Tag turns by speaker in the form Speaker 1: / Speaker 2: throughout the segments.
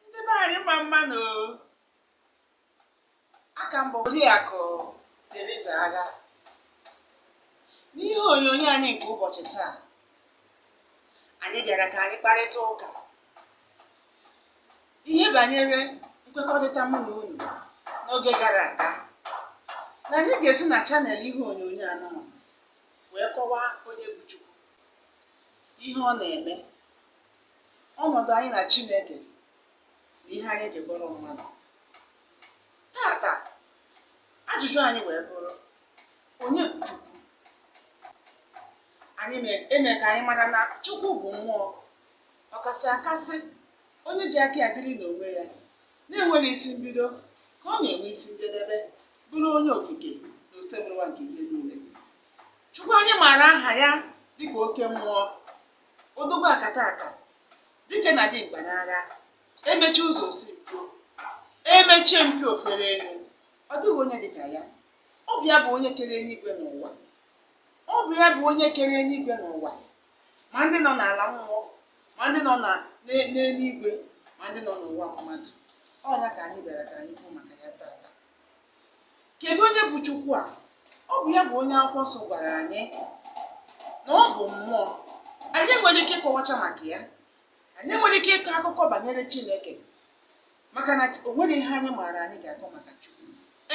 Speaker 1: ndị be anyị mma mma nụ aka m bụ oriakụ Teriza Agha n'ihe onyonyo anyị nke ụbọchị taa anyị bịara ka anyị kparịta ụka ihe banyere nkwekọrịta mụ na unu n'oge gara aga na anyị ga-esi na channel ihe onyonyo anọ wee kọwaa onye bụ Chukwu ihe ọ na-eme ọnọdụ anyị na Chineke na ihe anyị ji bụrụ mmadụ tata ajụjụ anyị wee bụrụ onye bụ Chukwu anyị na-eme ka anyị mara na Chukwu bụ mmụọ ọkasị akasị onye ji aka ya dịrị n'onwe ya na-enweghị isi mbido ka ọ na-enwe isi njedebe bụrụ onye okike na osebụrụwa nke ihe niile Chukwu anyị maara aha ya dịka oke mmụọ odogwu akataka dike na dimkpa n'agha emechie ụzọ o si mpio emechie mpio o fere elu ọ dịghị onye dị ka ya ọ bụ ya bụ onye kere eluigwe na ụwa ọ bụ ya bụ onye kere eluigwe na ụwa ma ndị nọ n'ala mmụọ ma ndị nọ na- n'e- n'eluigwe ma ndị nọ n'ụwa mmadụ ọ ya ka anyị bịara ka anyị kwuo maka ya tata kedu onye bụ chukwu a ọ bụ ya bụ onye akwụkwọ nsọ gwara anyị na ọ bụ mmụọ anyị nwere ike ịkọwacha maka ya anyị nwere ike ịkọ akụkọ banyere chineke maka na o nwere ihe anyị maara anyị ga-akọ maka chukwu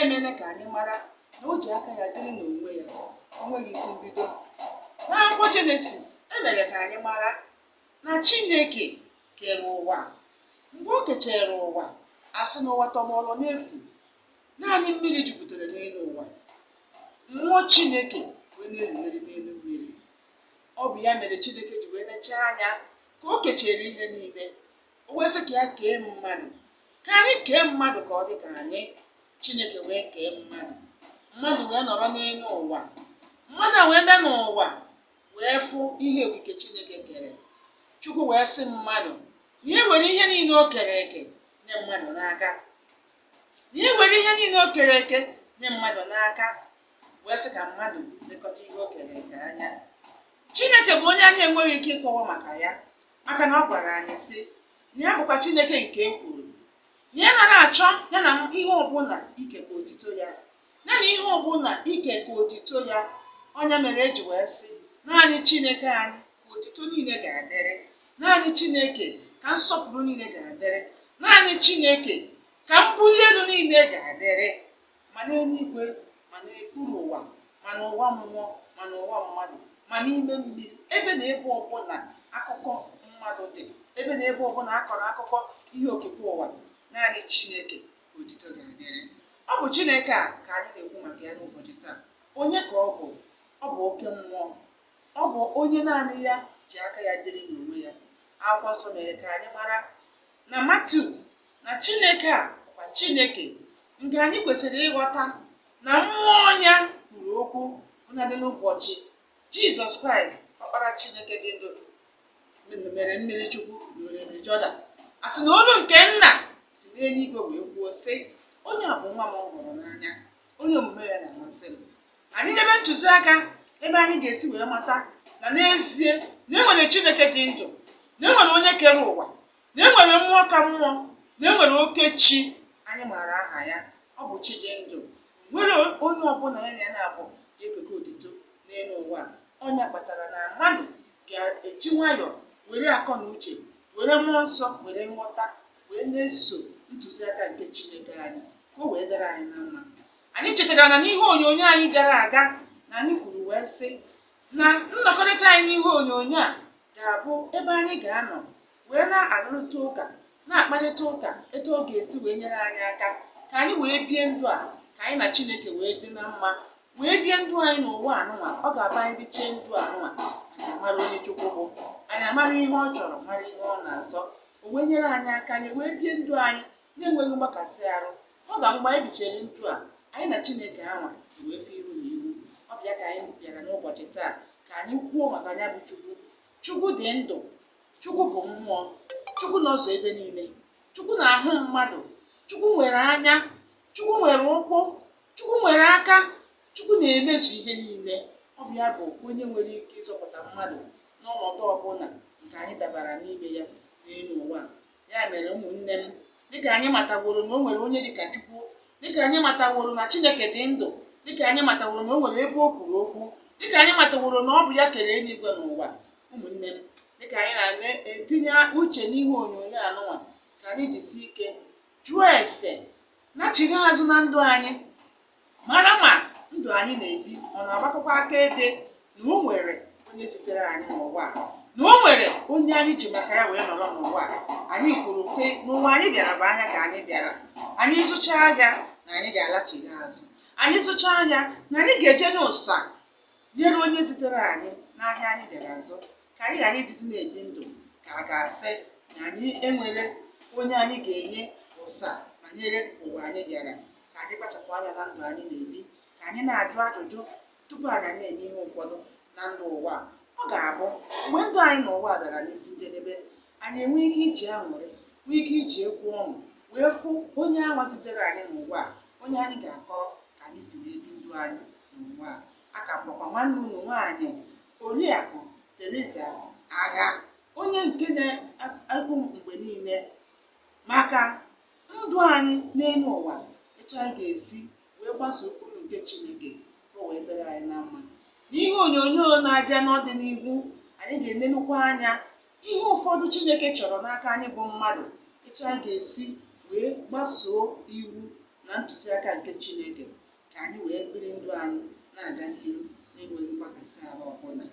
Speaker 1: emere ka anyị mara na o ji aka ya dịrị n'onwe ya o nweghị isi mbido n'akwụkwọ jenesis emere ka anyị mara na Chineke kere ụwa mgbe o kechere ụwa asị na ụwa tọgbọrọ n'efu naanị mmiri jupụtara n'elu ụwa mmụọ Chineke wee na-erugharị n'elu mmiri ọ bụ ya mere Chineke ji wee nechaa anya ka o kechere ihe niile o wee sị ka ya kee mmadụ ka anyị kee mmadụ ka ọ dị ka anyị Chineke wee kee mmadụ mmadụ wee nọrọ n'elu ụwa mmadụ wee bịa n'ụwa wee fụ ihe okike Chineke kere. Chukwu wee sị mmadụ na ya were ihe niile o kere eke nye mmadụ n'aka. Na ya were ihe niile o kere eke nye mmadụ n'aka wee sị ka mmadụ lekọta ihe o kere eke anya. Chineke bụ onye anyị enweghị ike ịkọwa maka ya maka na ọ gwara anyị sị na ya bụkwa Chineke nke ekworo na ya anara achọ ya na ihe ọbụla ikekọ otito ya. Ya na ihe ọ bụla ikekọ otito ya, ọ nya mere e ji wee sị, naanị Chineke anyị ka otito niile ga-adịrị, naanị Chineke ka nsọpụrụ niile ga-adịrị, naanị Chineke ka mbuli elu niile ga-adịrị, ma n'eluigwe ma n'okpuru ụwa ma n'ụwa mmụọ ma n'ụwa mmadụ ma n'ime mmiri ebe na ebe ọbụla akụkọ mmadụ dị ebe na ebe ọbụla a kọrọ akụkọ ihe okike ụwa naanị Chineke ka otito ga-adịrị. Ọ bụ Chineke a ka anyị na-ekwu maka ya n'ụbọchị taa. Onye ka ọ bụ? Ọ bụ oke mmụọ. Ọ bụ onye naanị ya ji aka ya dịrị n'onwe ya. Akwụkwọ nsọ mere ka anyị mara na Matiu na Chineke a bụkwa Chineke nke anyị kwesịrị ịghọta na mmụọ ya kwuru okwu bụnadị n'ụbọchị Jizọs Kraịst ọkpara Chineke dị ndụ mere mmiri chukwu na orimiri Jọdan a sị na olu nke nna si n'eluigwe wee kwuo sị onye a bụ nwa m hụrụ n'anya onye omume ya na-amasị m anyị nyebe ntụziaka ebe anyị ga-esi wee mata na n'ezie na e nwere Chineke dị ndụ na e nwere onye kere ụwa na e nwere mmụọ ka mmụọ na e nwere oke chi anyị maara aha ya ọ bụ chi dị ndụ nwerọ onye ọbụla ya na ya naabọ ga-ekeke otito n'elu ụwa a. ọ nya kpatara na mmadụ ga-eji nwayọọ were akọ na uche were mmụọ nsọ were nghọta wee na-eso ntụziaka nke chineke anyị ka o wee dịrị anyị na mma anyị chetara na n'ihe onyonyo anyị gara aga na anyị kwuru wee sị na nnọkọrịta anyị n'ihe onyonyo a ga-abụ ebe anyị ga-anọ wee na-arụrịta ụka na-akparịta ụka etu ọ ga-esi wee nyere anyị aka ka anyị wee bie ndụ a ka anyị na Chineke wee dị na mma wee bie ndụ anyị n'ụwa anụnwa ọ ga-abụ anyị bichie ndụ anụnwa anyị amara onye Chukwu bụ anyị amara ihe ọ chọrọ mara ihe ọ na-asọ o wee nyere anyị aka anyị wee bie ndụ anyị na-enweghị mgbakasị arụ Ọ ga mgbe anyị bichere ndụ a, anyị na Chineke anwa wee fụ iru na iru. Ọ bụ ya ka anyị bịara n'ụbọchị taa ka anyị kwuo maka ya bụ Chukwu. Chukwu dị ndụ. Chukwu bụ mmụọ. Chukwu nọzu ebe niile. Chukwu na-ahụ mmadụ. Chukwu nwere anya. Chukwu nwere ụkwụ. Chukwu nwere aka. Chukwu na-emezu ihe niile. Ọ bụ ya bụ onye nwere ike ịzọpụta mmadụ n'ọnọdụ ọbụla nke anyị dabara n'ime ya n'elu ụwa a. ya mere ụmụnne m dịka anyị mataworo na o nwerọ onye dịka Chukwu dịka anyị mataworo na Chineke dị ndụ dịka anyị mataworo na o nwere ebe o kwuru okwu dịka anyị mataworo na ọ bụ ya kere eluigwe na ụwa ụmụnne m dịka anyị na-etinye uche n'ihe onyonyo anụnwa ka anyị jisie ike jụọ ese nachigha azụ na ndụ anyị mara ma ndụ anyị na-ebi ọ na-agbakọkwa akaebe na o nwere onye zitere anyị n'ụwa a, na o nwere onye anyị ji maka ya wee nọrọ n'ụwa a. Anyị kwuru sị na ụwa anyị bịara bụ ahịa ka anyị bịara anyị zụchaa ahịa na anyị ga-alachigha azụ anyị zụchaa ahịa na anyị ga-eje n'ụsa nyere onye zitere anyị n'ahịa anyị bịara azụ ka anyị ghara ịdịzi na-ebi ndụ ka a ga-asị na anyị enwerọ onye anyị ga-enye ụsa banyere ụwa anyị bịara ka anyị kpachapụ anya na ndụ anyị na-ebi ka anyị na-ajụ ajụjụ tupu anyị na-eme ihe ụfọdụ na ndụ ụwa a. ọ ga-abụ mgbe ndụ anyị n'ụwa bịara n'isi njedebe anyị enwee ike iji aṅụrị nwee ike iji egwu ọṅụ wee fụ onye anwa zitere anyị n'ụwa a onye anyị ga-akọrọ ka anyị si wee bi ndụ anyị n'ụwa a aka m bụkwa nwanne unu nwaanyị oriakụ Teresa Agha onye nke na-ekwu mgbe niile maka ndụ anyị n'elu ụwa etu anyị ga-esi wee gbasoo ụkpụrụ nke Chineke ka o wee dịrị anyị na mma n'ihe onyonyo na-abịa n'ọdịnihu anyị ga-enenukwa anya ihe ụfọdụ Chineke chọrọ n'aka anyị bụ mmadụ etu anyị ga-esi wee gbasoo iwu na ntụziaka nke Chineke ka anyị wee biri ndụ anyị na-aga n'ihu na-enweghị mgbakasị ahụ ọbụla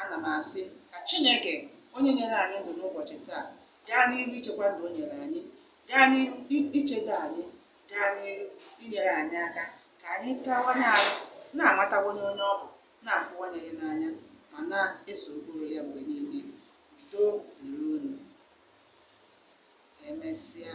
Speaker 1: ana m asị ka chineke onye nyere anyị ndụ n'ụbọchị taa gaa n'iru ichekwa ndụ o nyere anyị gaa n'iru i- ichedo anyị gaa n'iru inyere anyị aka ka anyị kawanye arụ na-amatawanye onye ọ bụ na-afụwanye ya n'anya ma na-eso ụkpụrụ ya mgbe niile udo dịrị unu emesịa